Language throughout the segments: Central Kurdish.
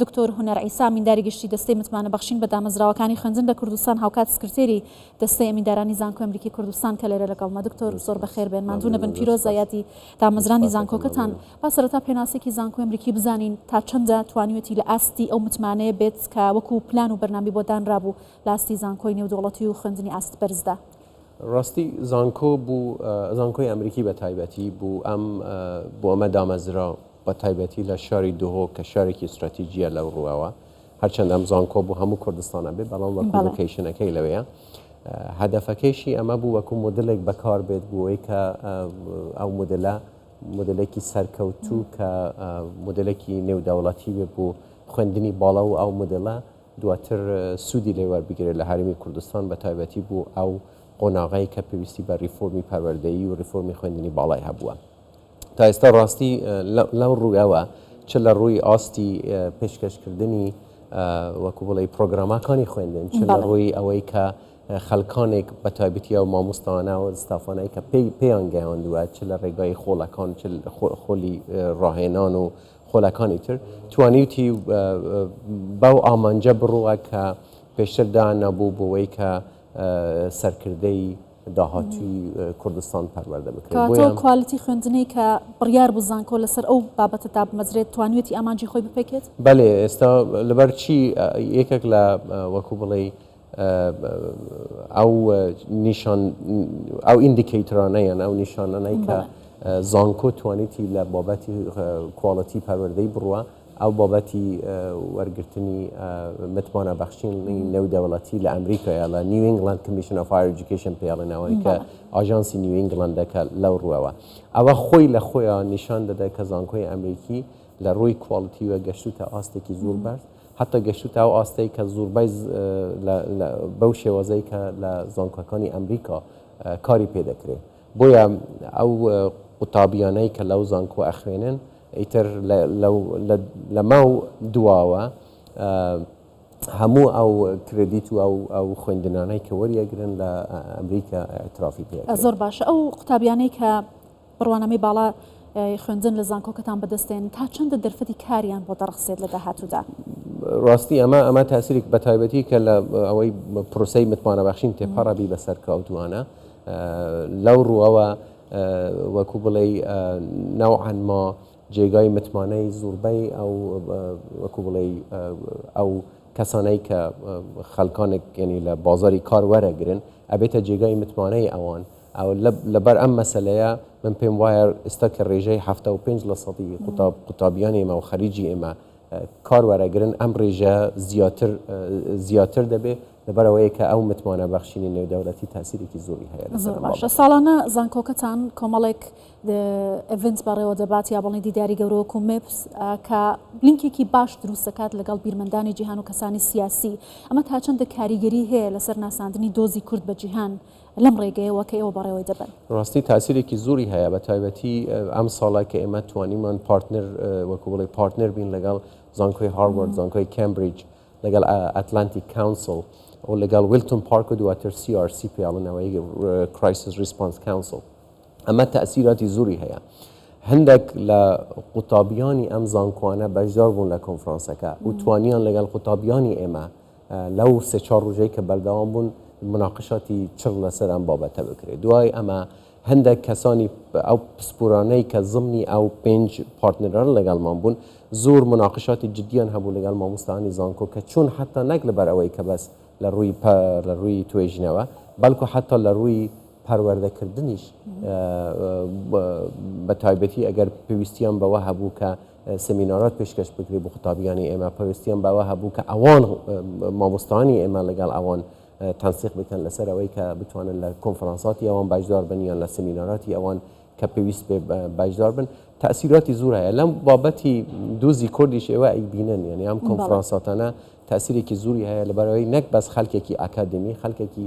دکتۆر هونەر عیسا ئەمینداری گشتی دەستەی متمانە بەخشین بە دامەزراوەکانی خوێندن لە کوردستان هاوکات سکرتێری دەستەی ئەمیندارانی زانکۆی ئەمریکی کوردستان کە لێرە لەگەڵمە دکتۆر زۆر بەخێر بێن ماندوو نەبن پیرۆزە یادی دامەزرانی زانکۆکەتان با سەرەتا پێناسێکی زانکۆی ئەمریکی بزانین تا چەندە توانیوێتی لە ئاستی ئەو متمانەیە بێت کە وەکو پلان و بەرنامی بۆ دانرابوو لە ئاستی زانکۆی نێودەوڵەتی و خوێندنی ئاست بەرزدا. ڕاستی زانکۆ بو زانکۆی ئەمریکی بە تایبەتی بو ئەم بو ئەمە دامەزرا بە تایبەتی لە شاری دهۆک کە شارێکی ستراتیجیە لەو ڕوەوە هەرچەند ئەم زانکۆ بو هەمو کوردستان ئەبێ بەڵام وەکو لۆکەیشنەکەی لەوێیە هەدەفەکەیشی ئەمە بو وەکو مۆدلێک بەکار بێت بو ئەوەی کە ئەو مۆدلە مۆدلێکی سەرکەوتو کە مۆدلێکی نێودەوڵەتی بێ بو خوێندنی باڵا و ئەو مۆدلە دواتر سوودی لێ وەربگیرێت لە هەرێمی کوردستان بە تایبەتی بۆ ئەو قۆناغەی کە پێویستی بە ریفۆرمی پەروەردەیی و ریفۆرمی خوێندنی باڵای هەبووە تا ئێستا ڕاستی لەو ڕوویەوە چ لە ڕووی ئاستی پێشکەشکردنی وەکو بڵێ پرۆگراماکانی خوێندن چ لە ڕووی ئەوەی کە خەلکانێک بە تایبەتیە و مامۆستانە و ستافانەی کە پێی پێیان گەیاندووە چ لە ڕێگای خۆڵەکان چ خۆلی ڕاهێنان و خولەکانی تر، توانیوتی بەو ئامانجە بڕوا کە پێشتر دانابوو بۆوەی کە سەرکردەی داهاتووی کوردستان پەروەردە بکرێت. کەواتە ئەو کوالیتی خوێندنەی کە بڕیار بوو زانکۆ لەسەر ئەو بابەتە دابمەزرێت، توانیوێتی ئامانجی خۆی بپێکێت؟ بەلێ، ئێستا لەبەرچی یەکێک لە وەکو بڵێی، ئەو نیشان ئەو ئیندیکەیترانە یان ئەو نیشانانەی کە بەڵێ. زانکۆ توانیتی لە بابەتی کواڵیتی پەروەردەی بڕوا ئەو بابەتی وەرگرتنی متمانە بەخشینی نێودەوڵەتی لە ئەمریکایە لە نیو ئینگڵەند کمیشن ئۆف هایەر ئێجوکەیشن پێی ئەڵێن ئەوەی کە بەڵێ. ئاژانسی نیو ئینگڵەندە کە لەو ڕووەوە ئەوە خۆی لە خۆیا نیشان دەدا کە زانکۆی ئەمریکی لە ڕووی کواڵیتیوە گەشتووتە ئاستێکی زۆر بەرز هەتا گەشتوتە ئەو ئاستەی کە زوڕبای بەو شێوەزەی کە لە زانکۆکانی ئەمریکا کاری پێ دەکرێ بۆیە ئەو قوتابیانەی کە لەو زانکۆ ئەخوێنن ئیتر لەمەو دواوە هەموو ئەو کرێدیت و ئەو خوێندنانەی کە وەریەگرن لە ئەمریکا ئیعترافی پێ ئەکرێ. زۆر باشە ئەو قوتابیانەی کە. بڕوانامەی باڵا ی خوێندن لە زانکۆکەتان بەدەست دێن تا چەندە دەرفەتی کاریان بۆ دەڕەخسێت لە داهاتوودا؟ ڕاستی ئەمە ئەمە تاسیرێک بەتایبەتی کە لە ئەوەی پرۆسەی متمانە بەخشین تێپەڕە بی بەسەر کەوتوانە لەو ڕووەوە وەکو بڵێ نەوعەن ما جێگای متمانەی زوربەی ئەو وەکو بڵێ ئەو کەسانەی کە خەلکانێک گەنی لە بازاری کار وەرەگرن ئەبێتە جێگای متمانەی ئەوان و ئەوە لەبەر ئەم مەسەلەیە من پێم وایە ئێستا کە ڕێژەی حەفتا و پێنج لە سەدی قوتاب قوتابیانی ئێمە و خەریجی ئێمە کار وەرەگرن ئەم ڕێژە زیاتر زیاتر دەبێ لەبەر ئەوەیە کە ئەو متمانە بەخشینی نێودەولەتی تاسیرێکی زۆری هەیە لەسەر ئەم باشە بابەتە. ساڵانە زانکۆکەتان کۆمەڵێک د- ئێڤنت بەڕێوە دەبات یا بەڵێ دیداری گەورە وەکو مێپس ە کە لینکێکی باش دروست دەکات لەگەڵ بیرمەندانی جیهان و کەسانی سیاسی ئەمە تاچەندە کاریگەری هەیە لەسەر ناساندنی دۆزی کورد بە جیهان لەم ڕێگەیەوە کە ئێوە بەڕێوەی دەبەن. ڕاستی تاسیرێکی زۆری هەیە بە تایبەتی ئەم ساڵە کە ئێمە توانیمان پارتنر وەکو بڵێ پارتنر بین لەگەڵ زانکۆی هاروارد زانکۆی کەمبریج لەگەڵ ئەتلانتیک کاونسل و لەگەڵ ویلتون پارک و دواتر سی ئار سی پێڵنەوەی کرایسس ریسپانس کاونسل ئەمە تاسیراتی زۆری هەیە هەندێک لە قوتابیانی ئەم زانکوانە بەشدار بوون لە کۆنفرانسەکە و توانیان لەگەڵ قوتابیانی ئێمە لەو سێ چوار ڕوژەی کە بەردەوام بوون مناقشاتی چڕ لەسەر ئەم بابەتە بکرێت دوای ئەمە هەندێک کەسانی ئەو پسپورانەی کە زمنی ئەو پێنج پارتنران لەگەڵمان بوون زۆر مناقشاتی جددیان هەبوو لەگەڵ مامۆستانی زانکۆ کە چون حتا نەک لەبەر ئەوەی کە بەس لە ڕووی لە ڕووی توێژینەوە بەڵکو حتا لە ڕووی پەروەردەکردنیش بە تایبەتی ئەگەر پێویستیان بەوە هەبوو کە سمینارات پێشکەش بکرێ بۆ قوتابیانی ئێمە پەوستیان بەوە هەبوو کە ئەوان مامۆستانی ئێمە لەگەڵ ئەوان تەنسیق بکەن لەسەر ئەوەی کە بتوانن لە کۆنفرانساتی ئەوان باشدار بن یان لە سمیناراتی ئەوان کە پێویست پێ باشدار بن تاثیراتی زور هەیە لەم بابەتی دوزی کوردیش ئێوە ئەیبینن یعنی ئەم کۆنفرانساتانە تاثیرێکی زوری هەیە لەبەرەوەی نەک بەس خەلکێکی ئاکادمی خەلکێکی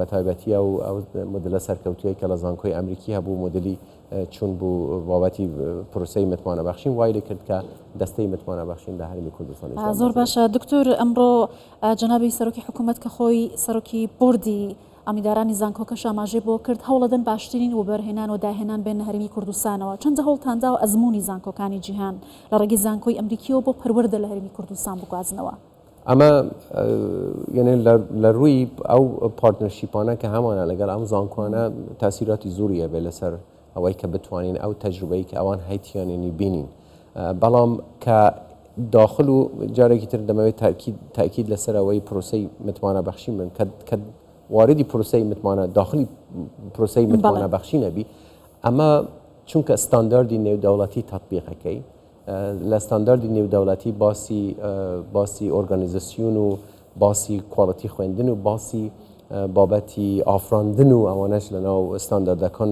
بەتایبەتی ئەو مودلە سەرکەوتوویەی کە لە زانکۆی ئەمریکی هەبوو، مودلی چون بوو بابەتی پرۆسەی متمانە بەخشین، وای لێ کرد کە دەستەی متمانە بەخشین لە هەرێمی کوردستان ئیسلام زۆر باشە دکتور ئەمڕۆ جەنابی سەرۆکی حکوومەت کە خۆی سەرۆکی بوردی ئەمیدارانی زانکۆکە شاماژەی بۆ کرد هەوڵەدەن باشترین و بەرهێنان و داهێنان بێن هەرمی کوردستانەوە چەندە هەوڵتاندا و ئەزمموی زانکۆکانی جیهان لە ڕێگەی زانکۆی ئەمریکیەوە بۆ پەروەەردە لە هەرمی کوردستان بگوازنەوە. ئەمە یەنێ لە ڕووی ئەو پارتنەرشیپانە کە هەمانە لەگەر ئەم زانکۆانە تاسیراتی زوری ئەبێ لەسەر ئەوەی کە بتوانین ئەو تەجروبەی کە ئەوان هەیتیانێنی بینین بەڵام کە داخل و جارێکی تر دەمەوێت تاکیید لەسەر ئەوەی پرۆسی متمانە بەخشی من کە واردی پرۆسی متمانە داخلی پرۆسی متمانە بەخشی نەبی ئەمە چونکە ستانداردی نێودەوڵەتی تطببیقەکەی لە ستانداردی نێودەوڵەتی باسی باسی ئۆرگانیزەسیون و باسی کواڵتی خوێندن و باسی بابەتی ئافراندن و ئەوانەش لە ناو ستانداردەکان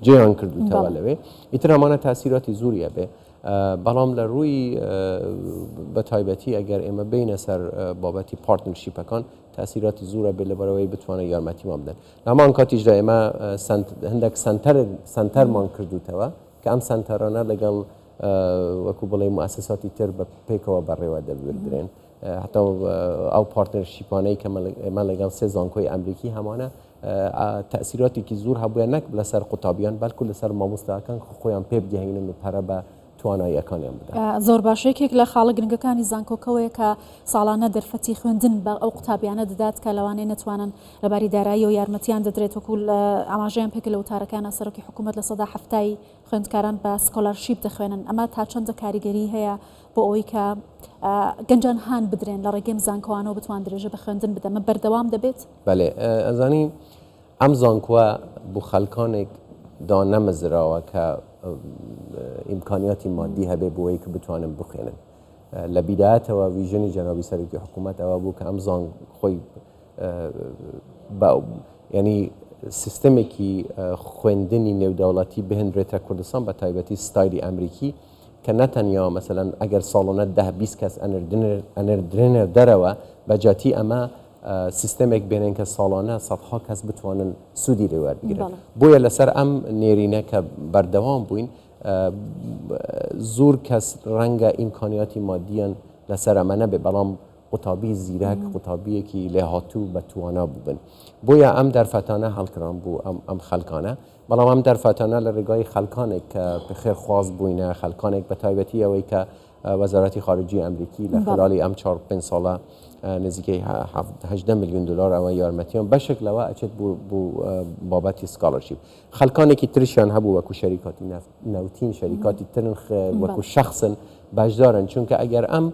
جێیان کردوتەوە لەوێ ئیتر ئەمانە تاسیراتی زوریە بێ بەڵام لە ڕووی بە تایبەتی ئەگەر ئێمە بینە سەر بابەتی پارتنشیپەکان تاسیراتی زورە بێ لەبەرەوەی بتوانە یارمەتیمان بدەن لەمان کاتیشدا ئێمە هەندێک سنتەر سنتەرمان کردوتەوە کە ئەم سەنتەرانە لەگەڵ وەکو بڵێ موسساتی تر بە پێکەوە بەڕێوە دەبردرێن حتا ئەو پارتنەرشیپانەی کە ئێمە لەگەڵ سێ زانکۆی ئەمریکی هەمانە تەسیراتێکی زۆر هەبووە نەک لەسەر قوتابیان بەلکو لەسەر مامۆستاکان خۆیان پێ بگەهینن و پەرە بە تواناییەکانیان بدە زۆر باشێکێک لە خاڵە گرنگەکانی زانکۆکەوەیە کە ساڵانە دەرفەتی خوێندن بە ئەو قوتابیانە دەدات کە لەوانەیە نتوانن لەباری داراییەوە یارمەتیان دەدرێت وەکو ئاماژەیان پێکرد لە وتارەکانا سەرۆکی حکومەت لە سەدا حەفتای خوێندکاران بە سکۆلارشیپ دەخوێنن ئەمە تا چەندە کاریگەری هەیە بۆ ئەوەی کە گەنجان هان بدرێن لە ڕێگەم زانکۆوانەوە بتوان درێژە بە خوێندن بدەمە بەردەوام دەبێت بەێ ئەزانی ئەم زانکووە بۆ خەلکانێک دانەمەزراوە کە ئیمکانیاتی مادی هەبێ بۆی کە بتوانم بخێنن لە بیداەتەوە ویژنی جەنابی سەرکی حکوومەتەوە بوو کە ئەم زان خۆی با یانی سیستەمێکی خوێندنی نێودەوڵەتی بهێنرێتە کوردستان بە تایبەتی ستایلی ئەمریکی کە نەتەنیا مەسەلەن ئەگەر ساڵۆنە ده بیست کەس ئەنردرێنەر دەرەوە بەجاتی ئەمە سیستەمێک بێنن کە ساڵانە سەدها کەس بتوانن سوودی لێ وەربگرن بۆیە لەسەر ئەم نێرینە کە بەردەوام بووین زۆر کەس ڕەنگە ئیمکانیاتی مادیان لەسەر ئەمە نەبێ بەڵام قوتابی زیرەک قوتابیەکی لێهاتوو بە توانا بووبن بۆیە ئەم دەرفەتانە هەڵکران بۆ ئەم خەلکانە بەڵام ئەم دەرفەتانە لە ڕێگای خەلکانێک کە خێر خواز بووینە خەلکانێک بە تایبەتی ئەوەی کە وەزارەتی خارجی ئەمریکی لە خلالی ئەم چهار پێنج ساڵە نزیکەی هەدە میلیون دلار ئەوە یارمەتیان بەشێک لەوە ئەچێت بۆ بابەتی سکاڵەرشیب خەلکانێکی ترشیان هەبوو وەکو شەریکاتی نەوتین شەریکاتی ترن وەکو شخصن بەشدارن چونکە ئەگەر ئەم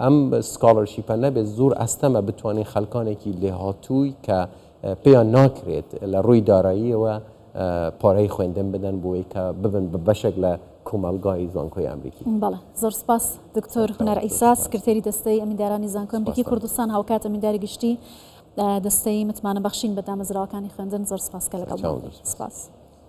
ئەم سکاڵەرشیپە نەبێت زۆر ئەستەمە بتوانین خەلکانێکی لێهاتووی کە پێیان ناکرێت لە ڕووی داراییەوە پارەی خوێندن بدەن بۆی کە ببن بە بەشێک لە کۆمەلگای زانکۆی ئەمریکی بەڵێ زۆر سپاس دکتۆر هونەر ئیسا سکرتێری دەستەی ئەمیندارانی زانکۆی ئەمریکی کوردستان هاوکات ئەمینداری گشتی دەستەی متمانە بەخشین بە دامەزراوەکانی خوێندن زۆر سپاس کە لەگەڵ سپاس.